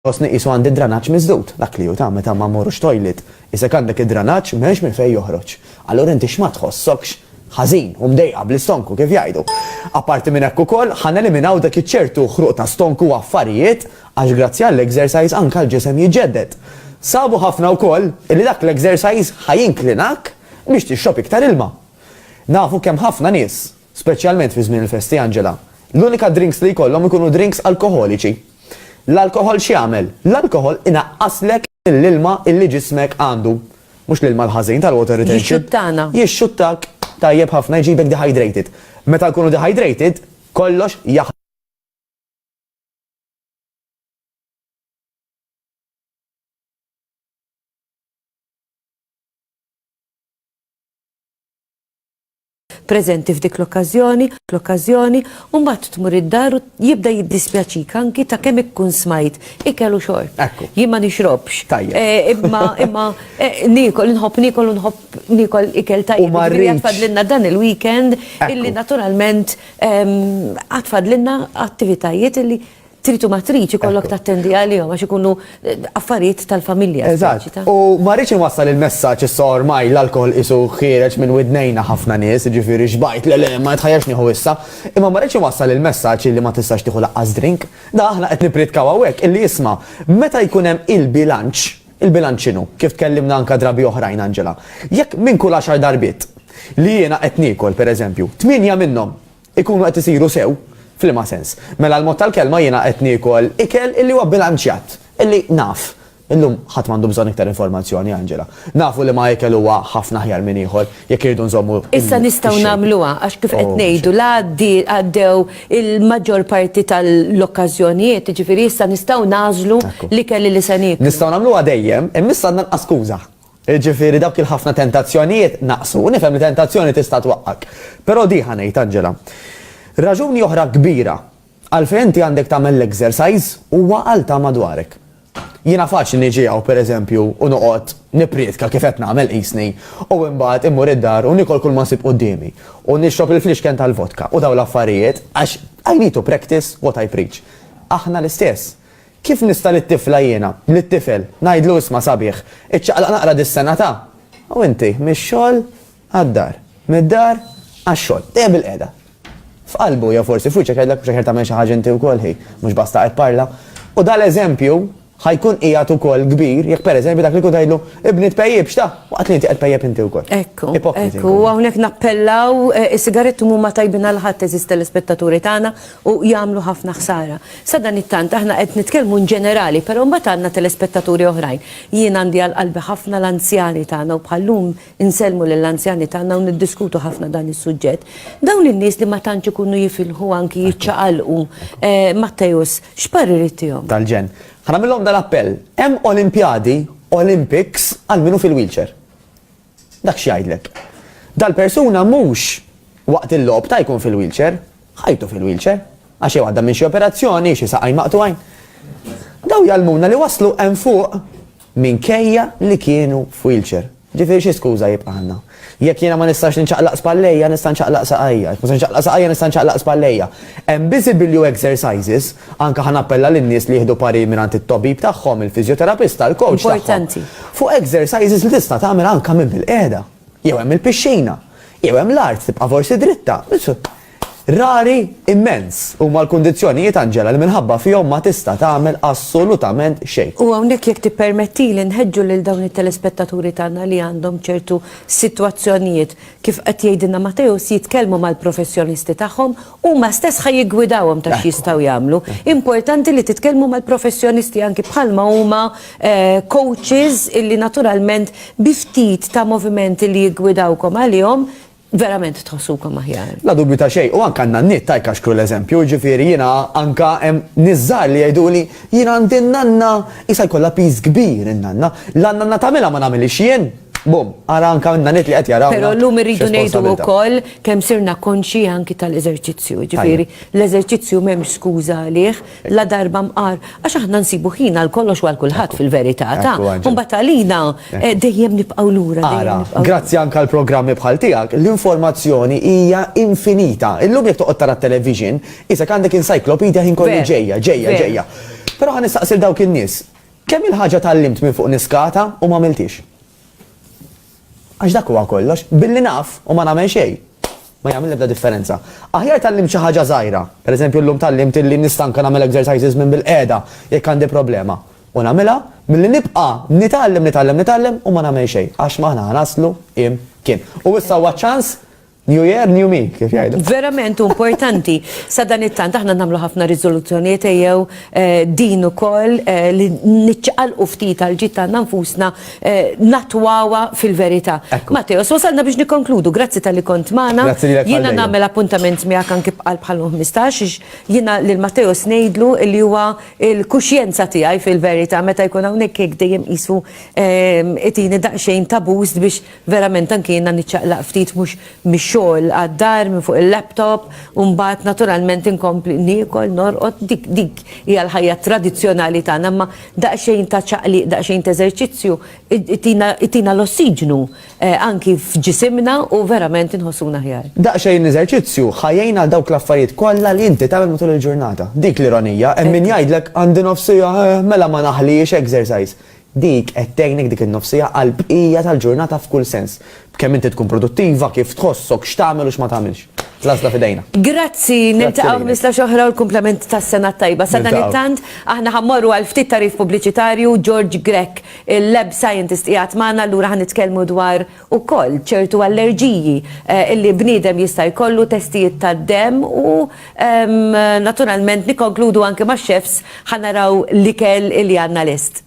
Ħossni qisu għandi d-dranaġġ miżdud, dak li hu ta' meta ma mmorrux toilet. Isek għandek id-dranaġġ m'hemmx minn fejn joħroġ. Allura inti x'ma tħossokx ħażin u mdejqa bl-istonku kif jgħidu. Apparti minn hekk ukoll, ħa neliminaw dak iċ-ċertu ħruq ta' stonku u affarijiet għax grazzi għall-exercise anke l-ġisem jiġġedded. Sabu ħafna wkoll li dak l-exercise ħa jinklinak biex tixrob iktar ilma. Nafu kemm ħafna nies Speċjalment fi żmien il-festi, Angela, l-unika drinks li jkollhom ikunu drinks alkoħoliċi. L-alkoħol x'jagħmel? L-alkoħol inaqqaslek l-ilma illi ġismek għandu. Mhux l-ilma l-ħażin tal-water retention. Jixxuttana. Jixxuttak tajjeb ħafna jġibek dehydrated. Meta nkunu dehydrated, kollox jaħ. preżenti f'dik l-okkażjoni, l-okkażjoni, u mbagħad tmur id-dar u jibda jiddispjaċik anki ta' kemm ikkun smajt ikel u xorb. Ekku. Jien ma nixrobx. Tajjeb. Eh, Imma imma eh, niekol, inħobb niekol u nħobb niekol ikel tajjeb. U ma Jiġifieri rridx. għatfadlilna dan il-weekend Ekku. illi naturalment ehm, għatfadlilna attivitajiet illi trid u ma tridx ikollok tattendi għalihom għax ikunu eh, affarijiet tal-familja. Eżatt. U ma rridx inwassal il-messaġġ issa ormaj l-alkohol isu ħiereġ minn widnejna ħafna nies, ġifieri xbajt le le ma jitħajjax nieħu issa, imma ma rridx inwassal il-messaġġ li ma tistax tieħu laqqas drink. Da aħna qed nipritkaw hawnhekk illi jisma' meta jkun hemm il-bilanċ, il-bilanċ x'inhu, kif tkellimna anka drabi oħrajn Angela. Jekk minn kull għaxar darbit li jiena qed niekol pereżempju, tminja minnhom Ikunu qed isiru sew? F'liema sens? Mela l-mod tal-kelma jiena qed niekol ikel illi huwa bilanċjat, illi naf. Illum ħadd m'għandu bżonn iktar informazzjoni, Angela. Nafu liema ikel huwa ħafna aħjar minn ieħor, jekk irridu nżommu il-shape. Issa nistgħu nagħmluha, għax kif qed ngħidu, la għaddew il-maġġor parti tal-okkażjonijiet, jiġifieri issa nistgħu nagħżlu l-ikel illi se nieklu. Nistgħu nagħmluha dejjem, imma issa għandna nqas skuża. Jiġifieri dawk il-ħafna tentazzjonijiet naqsu. U nifhem li tentazzjoni tista' twaqqgħek. Però di ħa ngħid, Angela. Raġuni oħra kbira għalfejn inti għandek tagħmel l-exercise huwa għal ta' madwarek. Jiena faċli niġi hawn, per eżempju, u noqgħod nipprietka kif qed nagħmel qisni, u imbagħad immur id-dar u niekol kulma nsib quddiemi, u nixrob il-flixken tal-vodka u dawn l-affarijiet, għax I need to practice what I preach. Aħna l-istess. Kif nista' lit-tifla jiena, lit-tifel, ngħidlu isma' sabiħ, iċċaqlaq naqra dis-sena ta', u inti, mix-xogħol għad-dar, mid-dar għax-xogħol, dejjem bilqiegħda. F'qalbu, jew forsi f'wiċċek jgħidlek mhux aħjar tagħmel xi ħaġa inti wkoll hi, mhux basta qed parla. U dan l-eżempju ħa jkun qiegħed ukoll kbir jekk pereżempju dak li jkun tgħidlu, ibni tpejjipx ta', waqt li inti qed tpejjep inti wkoll. Ekku, ekku, u hawnhekk nappellaw, is-sigaretti mhuma tajbin għal ħadd eżiż telespettaturi tagħna, u jagħmlu ħafna ħsara. Sadanittant aħna qed nitkellmu in ġenerali, però mbagħad għandna telespettaturi oħrajn. Jien għandi għal qalbi ħafna l-anzjani tagħna u bħal-lum insellmu lill-anzjani tagħna u niddiskutu ħafna dan is-suġġett. Dawn in-nies li ma tantx ikunu jifilħu anki jiċċaqalqu, Matteus, x'parir ittihom? Tal-ġenn. Ħa nagħmillhom dal-appell, hemm Olimpjadi, Olympics, għal min hu fil-wheelchair. Dak x'jgħidlek? Dal-persuna mhux waqt il-logħob ta' jkun fil-wheelchair, ħajtu fil-wheelchair, għax jew għadda minn xi operazzjoni, xi saqajn maqtugħin. Dawn jgħallmuna li waslu hemm fuq minkejja li kienu f'wheelchair. Ġifieri xi skuża jibqa' għandna? Jekk jiena ma nistax inċaqlaq spallejja, nista' nċaqlaq saqajja. Jekk ma nistax inċaqlaq saqajja, nista' nċaqlaq spallejja. Hemm biżi bilju exercises Anke ħa nappella lin-nies li jieħdu parir mingħand it-tobib tagħhom, il-fiżjoterapista, il-kowċ tagħhom, fuq exercises li tista' tagħmel anke minn bil-qiegħda. Jew hemm il-pixxina. Jew hemm l-art, tibqa' forsi dritta. Rari immens huma l-kundizzjonijiet, Angela, li minħabba fihom ma tista' tagħmel assolutament xejn. U hawnhekk jekk tippermettili nħeġġu lil dawn it-telespettaturi tagħna li għandhom ċertu sitwazzjonijiet, kif qed jgħidilna Mateusz, jitkellmu mal-professjonisti tagħhom Huma stess ħa jiggwidawhom ta' x'jistgħu jagħmlu. Importanti li titkellmu mal-professjonisti anki bħalma huma coaches illi naturalment bi ftit ta' movimenti li jiggwidawkom għalihom verament tħossukom aħjar. La dubju ta' xejn. U anke għandna n-nitt tajk għax kru l-eżempju, jiġifieri jiena anke hemm nies żgħar li jgħiduli jien għandi n-nanna qisha jkollha piż kbir in-nanna. La n-nanna tagħmilha ma nagħmilhiex jien. Bum, ara anka minna nit li qed jaraw. Pero l-lum irridu nejdu u koll kem sirna konxi anki tal-eżerċizzju, ġifiri, l-eżerċizzju mem skuza għalih, la darba mqar, għax aħna nsibu ħina l-kollox għal kulħadd fil-verità, ta' kumbat għalina eh, dejjem nibqaw lura. Ara, grazzi anka l-programmi bħal tijak, l-informazzjoni hija infinita. Illum jek toqgħod tara television, isek għandek encyclopedia ħin kollu ġejja, ġejja, ġejja. Pero għan nistaqsil dawk in-nies, Kemm-il ħaġa tgħallimt minn fuq niskata u m'għamilthiex. Għax dak huwa kollox, billi naf u ma nagħmel xejn, ma jagħmel l-ebda differenza. Aħjar tgħallimt xi ħaġa żgħira, pereżempju llum tgħallimt illi nista' anke nagħmel exercises minn bil-qiegħda jekk għandi problema, u nagħmilha, milli nibqa' nitgħallem, nitgħallem, nitgħallem u ma nagħmel xejn, għax m'aħna ħa naslu imkien. U issa huwa ċ-ċans New year, new me, kif jgħidu. Verament importanti. Sa dan it-tant aħna nagħmlu ħafna riżoluzzjonijiet ejjew eh, din ukoll eh, li niċċaqalqu ftit għal ġid tagħna nfusna eh, natwawa fil-verità. Matteo, so salna biex nikkonkludu, grazzi tal-li kont magħna. Jiena nagħmel appuntament miegħek anki bqal bħal 15 jiena lil Matteo snejdlu li huwa il-kuxjenza tiegħi fil-verità meta jkun hawnhekk jekk dejjem qisu itini daqsxejn tabus biex Verament anki jiena niċċaqlaq ftit mhux mix-xogħol għad-dar minn fuq il-laptop u mbagħad naturalment inkompli niekol, norqod, dik dik hija l-ħajja tradizzjonali tagħna imma daqsxejn ta' ċaqliq, daqsxejn t'eżerċizzju itina itina l-ossiġnu anki f'ġisimna u verament inħossuna aħjar. Daqsxejn eżerċizzju ħa jgħin għal dawk l-affarijiet kollha li inti tagħmel matul il-ġurnata. Dik l-ironija, hemm min jgħidlek għandi nofs siegħa, eh, mela ma naħliex exercise. Dik qed tgħinek dik in-nofsija għall-bqija tal-ġurnata f'kull sens. B'kemm inti tkun produttiva, kif tħossok, x'tagħmel u x'ma tagħmilx. L-għażla f'idejna. Grazzi, niltaqgħu ħmistax oħra u l-kumplament tas-sena t-tajba. Sadanittant, aħna ħa mmorru għal ftit tagħrif pubbliċitarju, George Grech, il-Lab Scientist qiegħed magħna, allura ħa nitkellmu dwar ukoll ċertu allerġiji li bniedem jista' jkollu, testijiet tad-demm u naturalment nikkonkludu anke max-chefs ħa naraw l-ikel li għandna lest.